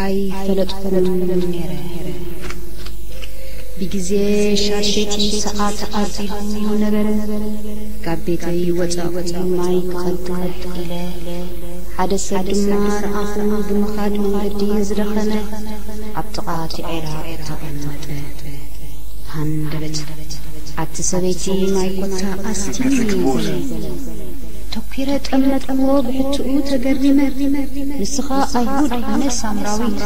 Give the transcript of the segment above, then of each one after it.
ኣይፈለጥኩምን ነይረ። ብግዜ ሻድሸይቲ ሰዓት ኣርዚኑ ነበረ። ካብ ቤተይ ወጻእኩ ማይ ክቐድሕ ኢለ። ሓደ ሰብ ድማ ረኣኹ ብምኻድ መንገዲ ዝደኸመ ኣብ ጥቓ እቲ ዔራቕ ተቐመጠ። ሃንደበት ኣብቲ ሰበይቲ ማይ ኮታ ኣስትይኒ በለ። ተኲረ ጠመትኩዎ ብሕትኡ ተገሪመ ንስኻ ኣይሁድ ኣነ ሳምራዊት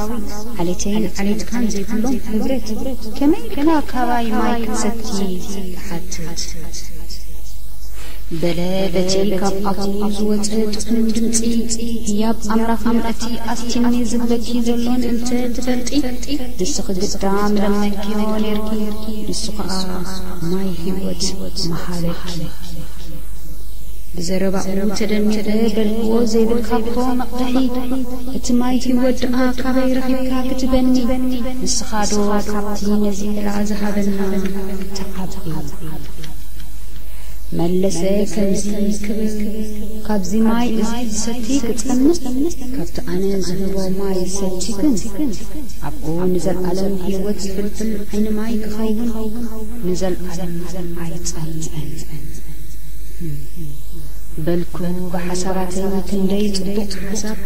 ዓሌተይን ዓሌትካን ዘይብሎም ሕብረት ከመይ ኢልካ ካባይ ማይ ክትሰቲ ትሓትት በለ በቲ ካብ ኣፉ ዝወጸ ጥዑም ድምጺ ህያብ ኣምላኽ ምእንቲ ኣስቲኒ ዝብለኪ ዘሎ ምእንቲ ትፈልጢ ንስኺ ግዳ ምለመንክዮ ኔርኪ ንሱ ኸኣ ማይ ህይወት ምሃበኪ ብዘረባኡ ተደኒቐ በልክዎ ዘይብልካ'ኮ መቕድሒ እቲ ማይ ሂወት ደኣ ካበይ ረኺብካ ክትበኒ ንስኻዶ ካብቲ ነዚ ዕላ ዝሃበና ትዓቢ መለሰ ከምዚ ክብል ካብዚ ማይ እዚ ዝሰቲ ክጸምእ ካብቲ ኣነ ዝህቦ ማይ ዝሰቲ ግን ኣብኡ ንዘልኣለም ሂወት ዝፍልፍል ዓይኒ ማይ ክኸውን ንዘልኣለም ኣይጸምእን በልኩ ብሓሳባተይ ክንደይ ጽቡቕ ሓሳብ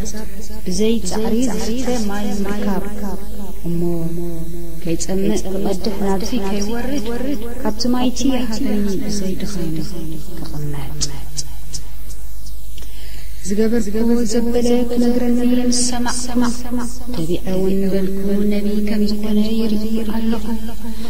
ብዘይ ጻዕሪ ዝስተ ማይ ምርካብ እሞ ከይጸምእ ክቐድሕ ናብዚ ከይወርድ ካብቲ ማይቲ ይሃበኒ ብዘይ ድኻም ክቕመጥ ዝገበርክዎ ዘበለ ክነግረኒ ምስ ሰማዕኩ ተቢዐ ውን በልኩ ነቢ ከም ዝኾነ ይርኢ ኣለኹ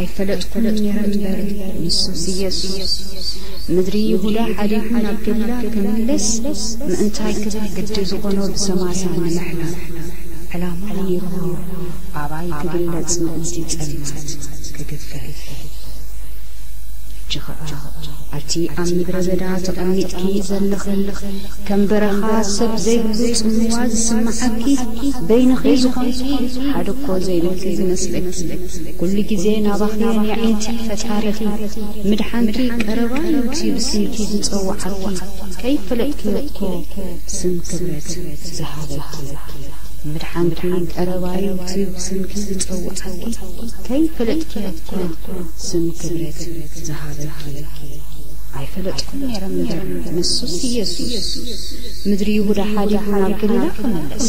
ኣይፈለጥኩን ነይረ እምበር፣ ንሱስ ኢየሱስ ምድሪ ይሁዳ ሓዲጉ ናብ ገሊላ ክምለስ ምእንታይ ክብል ግዲ ዝኾኖ ብሰማርያ ንምሕላፍ ዕላማ ነይሩዎ፣ ኣባይ ክግለጽ ምእንቲ ጸልማት ክግፈፍ። ሕጂ ኸኣ ኣቲ ኣብ ምድረ በዳ ተቐሚጥኪ ዘለኺ ከም በረኻ ሰብ ዘይብሉ ጽምዋ ዝስምዓኪ በይንኺ ዝኾንኪ ሓደኮ ዘይብልኪ ዝመስለኪ፣ ኩሉ ግዜ ናባኺ እየ ኣዒንቲ ፈጣሪኺ ምድሓንኪ ቀረባ እዩ እቲ ብስምኪ ዝጸውዓኪ ከይፈለጥክዮ እኮ ስም ክብረት ዝሃበኪ ምድሓንኪ ቀረባ እዩ እቲ ብስምኪ ዝጸውዓኪ ከይፈለጥክዮ እኮ ስም ክብረት ዝሃበኪ ኣይፈለጥኩን ነይረ እምበር ንሱስ ኢየሱስ ምድሪ ይሁዳ ሓዲጉ ናብ ገሊላ ክምለስ